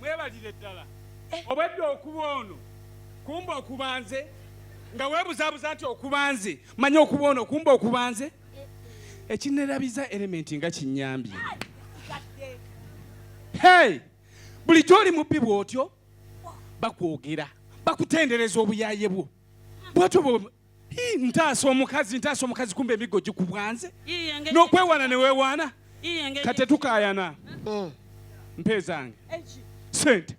mwebalire ddala obwedda okuba ono kumba okubanze nga webuzabuza nti okubanze manya okuba ono kumba okubanze ekinerabiza elementi nga kinyambye hey bulijjo oli mubbi bwotyo bakwogera bakutendereza obuyaye bwo bwotyo ntaasa omukazi ntaasa omukazi kumba emiggo gikubwanze n'okwewaana ne weewaana kate tukaayana mm. mpe zange sente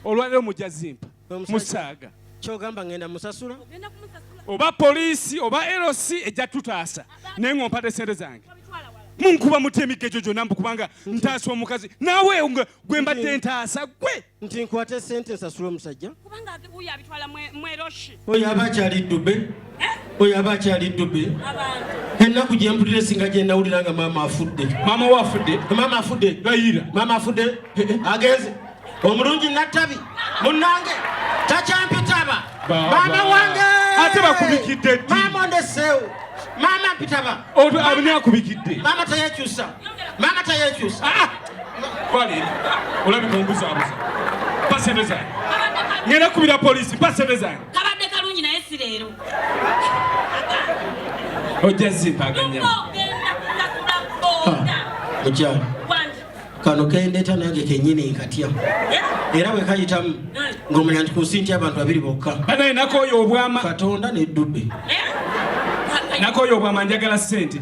olwaliro mujja zimpa musaaga kyogamba ngenda musasula oba poliisi oba lc ejja tutaasa naye ng'ompade sente zange munkuba mutya emigga egyo gyonna mbu kubanga ntaasa omukazi naawe gwe mbadde ntaasa gwe nti nkwate sente nsasula omusajja kubanga uyo abitwala mweroshi oyo aba akyali ddube eh? oyo aba akyali ddube ennaku gye mpulira esinga gye nawulira nga maama afudde maama we afudde maama afudde gayira maama afudde eh, eh, agenze omulungi nattabi munnange takyampitaba maama wange ate bakubikidde ddi maama ondeseewo maama mpitaba abinaakubikidde maama tayekyusa maama tayekyusa ah, ah. Kwali olabika onguzabuza pasente zange ngenda kubira polisi pasente zange kabadde kalungi naye si leero ojja zimpaganya mukyala kano kendeeta nange kenyini nkatya era bwe kayitamu ng'omanya nti ku nsi nti abantu babiri bokka banaye nakoyo obwama katonda neddudde eh? nakoyo obwama njagala sente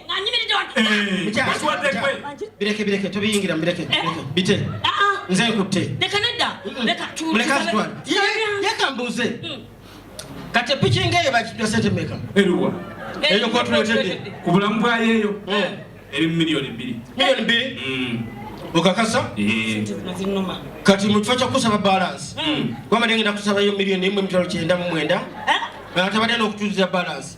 bireke bireke tubiyingira mubireke bite nze nkutte leka mbuuze kati epiki ngaeyo bakijwa sente meka eruwa eyo kotuletedde ku bulamu bwayeeyo eri mu miliyoni bbiri miliyoni bbiri okakasa kati mu kifo kyokusaba balansi wabadde ngenda kusabayo miliyoni emu emitwalo kyenda mu mwenda atabadde nokutuuza balansi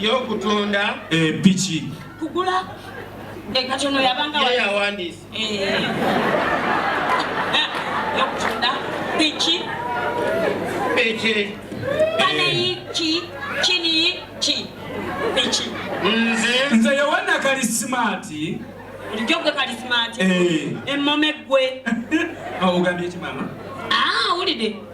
y'okutunda empiki eh, kugula ekatono eh, yabanga yawandiisa eh. y'okutunda piki piki paneyiki kiniyi ki piki nze nze yowana kalisimaati bulijjo gwe kalisimaati emmome gwe awugambye ki maama awulidde ah,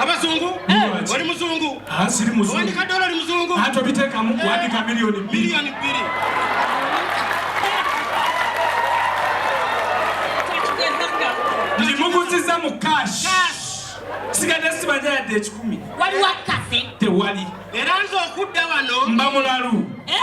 abazungu oli muzungu wandika dola oli muzungu atobitekamu wandika miliyoni bbiri ndimuguziza mu cash sigadde sibanja yadde ekikumi waliwo akase tewali era nze okudda wano mba mulalu eh?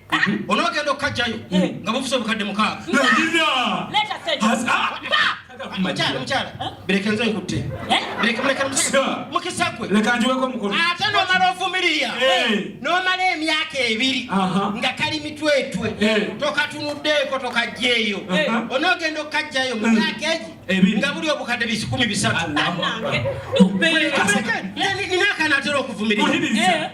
onogenda okukajjayo nga bufusa obukadde mukaaga mukyala mukyala bireke nze nkutte bireke muleke mukisa gwe leka njiweko omukono ate nomala ovumirira nomala emyaka ebiri nga kali mitwetwe tokatunuddeeko tokajjeeyo onogenda okukajjayo mu myaka egi nga buli obukadde bisikumi bisatu ninakanatera okuvumirira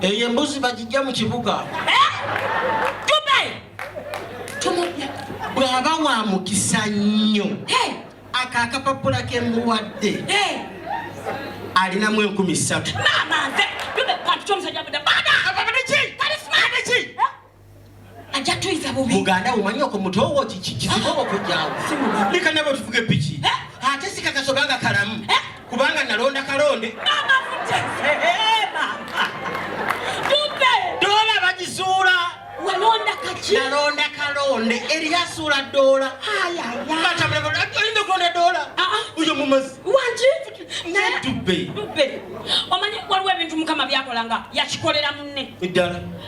Eyo embuzi bagijja mu kibuga. Bw'aba wa mukisa nnyo ako akapapula ke mmuwadde alinamu enkumi ssatu. ajja tuyiza bubi muganda umanyi oko mutowo kikikobo kujjawo leka nabo tuvuge piki eh? ate sikakasobanga kalamu eh? kubanga nalonda kalonde dola bagizuula nalonda kalonde eri asuula dola ayinza okulonda dola ah, ah. uyo mumazi omanyi waliwo ebintu mukama byakolanga yakikolera munne eddala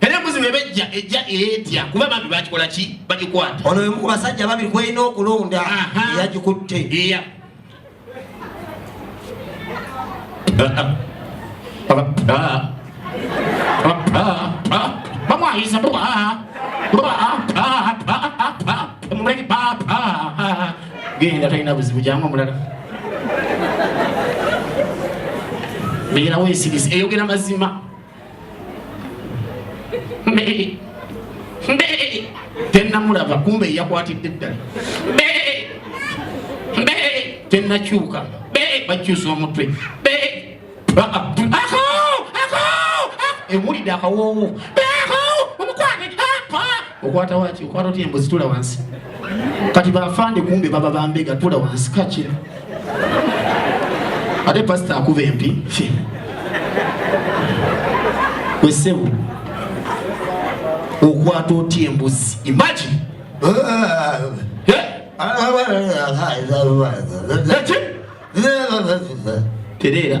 era embuzi bwebejja ejja etya kuba bambi bakikola ki bagikwata ono wemu ku basajja babiri kwelina okulonda eyagikutte iya bamwayisa genda talina buzibu jangu omulala beera wesirise eyogera mazima Mbee. Mbee. Tenna mulaba kumbe yakwatidde ddala. Mbee. Mbee. Tenna kyuka. Mbee. Bakyusa omutwe. Mbee. Ako! Ako! Ako! Ewulidde akawoowo. Mbee ako! Omukwate! Ako! Okwata waki? Okwata otya embuzi tula wansi. Kati bafande kumbe baba bambega tula wansi kakira. ate pasita akuba empi wesebo okwata otya embuzi imagine tereera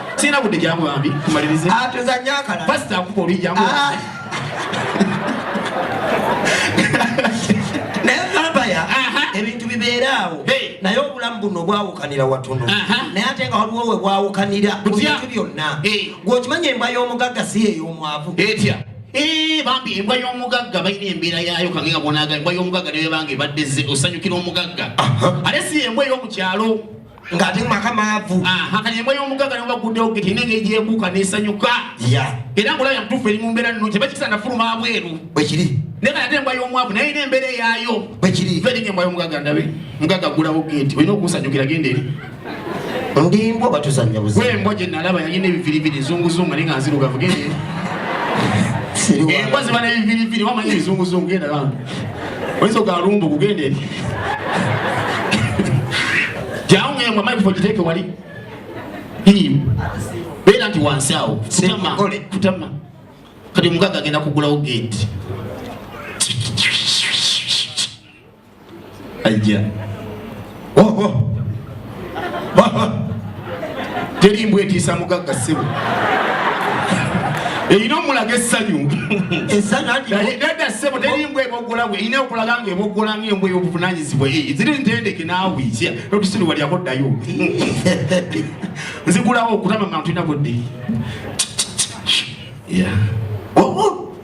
Sina budde jangu bambi kumalirize. Ah tuzanya akala. Pastor akupa oli jangu. Ah. Naye Fabaya ebintu bibeera awo naye obulamu buno bwawukanira watono naye ate nga waliwo we bwawukanira mu bintu byonna gwe okimanyi embwa y'omugagga si ey'omwavu etya Eh, bambi embwa y'omugagga balina embeera yaayo kange nga bwonaga embwa y'omugagga nebebanga ebadde ze osanyukira omugagga ate si embwa ey'omukyalo ng'ate mu maka maavu kati embwa y'omugagga nebaguddewo geti ine engeri gyebuuka n'esanyuka era ngaolabya mutuufu eri mu mbeera nno kyeba kisa nafuluma abweru bwekiri naye kati ate embwa y'omwavu naye ina embeera eyaayo bwekiri feringa embwa y'omugagga ndabe mugagga aggulawo geti olina okunsanyukira genda eri ndimbwa batuzanya buzi embwa gye nalaba yalina ebiviriviri zunguzungu naye nga nzirugavu genda eri embwa ziba n'ebiviriviri wamanya ebizunguzungu genda bambi oyinza ogamba lumbu kugenda eri jawungeyamwe amayi kufa ogiteeke wali beera nti wansi awo kutama kati omugaga agenda kugulawo gate ajja teri mbwa etiisa mugagga ssebo erina omulaga essanyu dada ssebo teri mbwa eboggola bwe erina okulaga nga eboggola nga embwa ey'obuvunanyizibwa eh, ziri ntendeke naawe notusiriwa lyako ddayo nzigulawo okutama mantu ina budde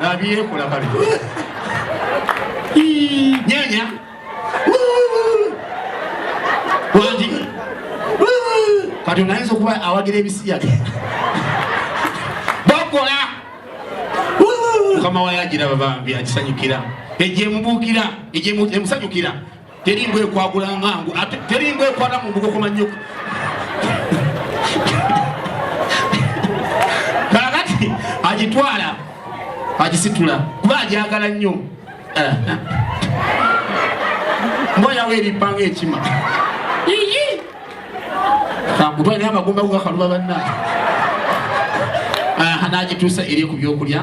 nabyekula kale nyanya wangi kati onayinza okuba awagira ebisiyaga bakola mukama wayo agira babambi akisanyukira egyemubuukira egyemusanyukira Teri mbwa ekwagula ngangu ate teri mbwa ekwata mu mbugo kumanyuka. Kakati agitwala agisitula kuba agyagala nnyo. Eh. Mbwa yawe eripanga ekima. Kakutwala naye amagumba gugakaluba banna. Aha n'agituusa eri ku byokulya.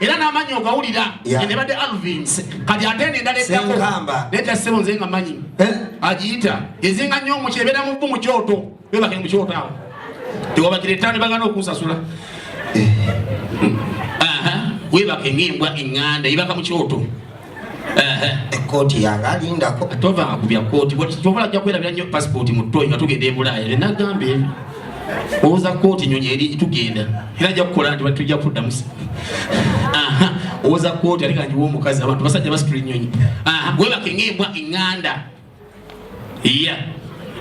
era n'amanyi ogawulira enebadde alvin kati ate eno endala eddako neta ssebo nze nga manyi eh? agiyita ezinga nnyo omuki ebeera mu bbu mu kyoto bebake mu kyoto awo tewabakira ettaano bagana okunsasula eh. webake ng'embwa eŋŋanda ebaka mu kyoto ekkooti yange alindako tovanga ku bya kkooti kyova ajja kwerabira nnyo pasipooti mu toyi nga tugenda e bulaaya era nagamba ebyo owoza kkooti nyonyi eri tugenda era ajja kukola nti batujja kuddamu owoza kkooti ate kangiwa omukazi abantu basajja basitula ennyonyi webaka eng'embwa eŋŋanda iya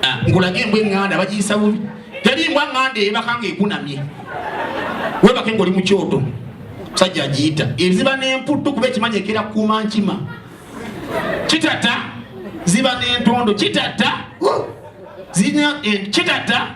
ah, nkulaga embwa eŋŋanda bagiyisa bubi teri mbwa ŋŋanda eyebaka nga ekunamye webake ngaoli mu kyoto musajja agiyita eziba n'emputtu kuba ekimanyi ekera kuuma nkima kitata ziba n'entondo kitata zirina eh, kitata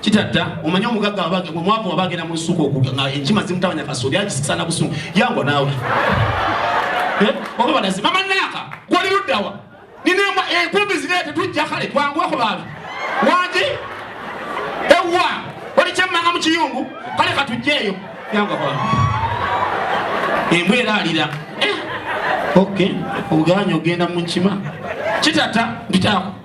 kitadda omanyi omugagga wabage omwavu waba agenda mu lusuku okuga nga enkima zimutabanya kasooli agisisa na busungu yango naawe eh? oba balazi mama naaka gwali luddawa ninamba enkumbi eh, zine tetujja kale twangweko baabi wangi ewa oli kyemmanga mu kiyungu kale katujjeeyo yanga kwa embwa era alira eh? ok oganya ogenda mu nkima kitata mpitaako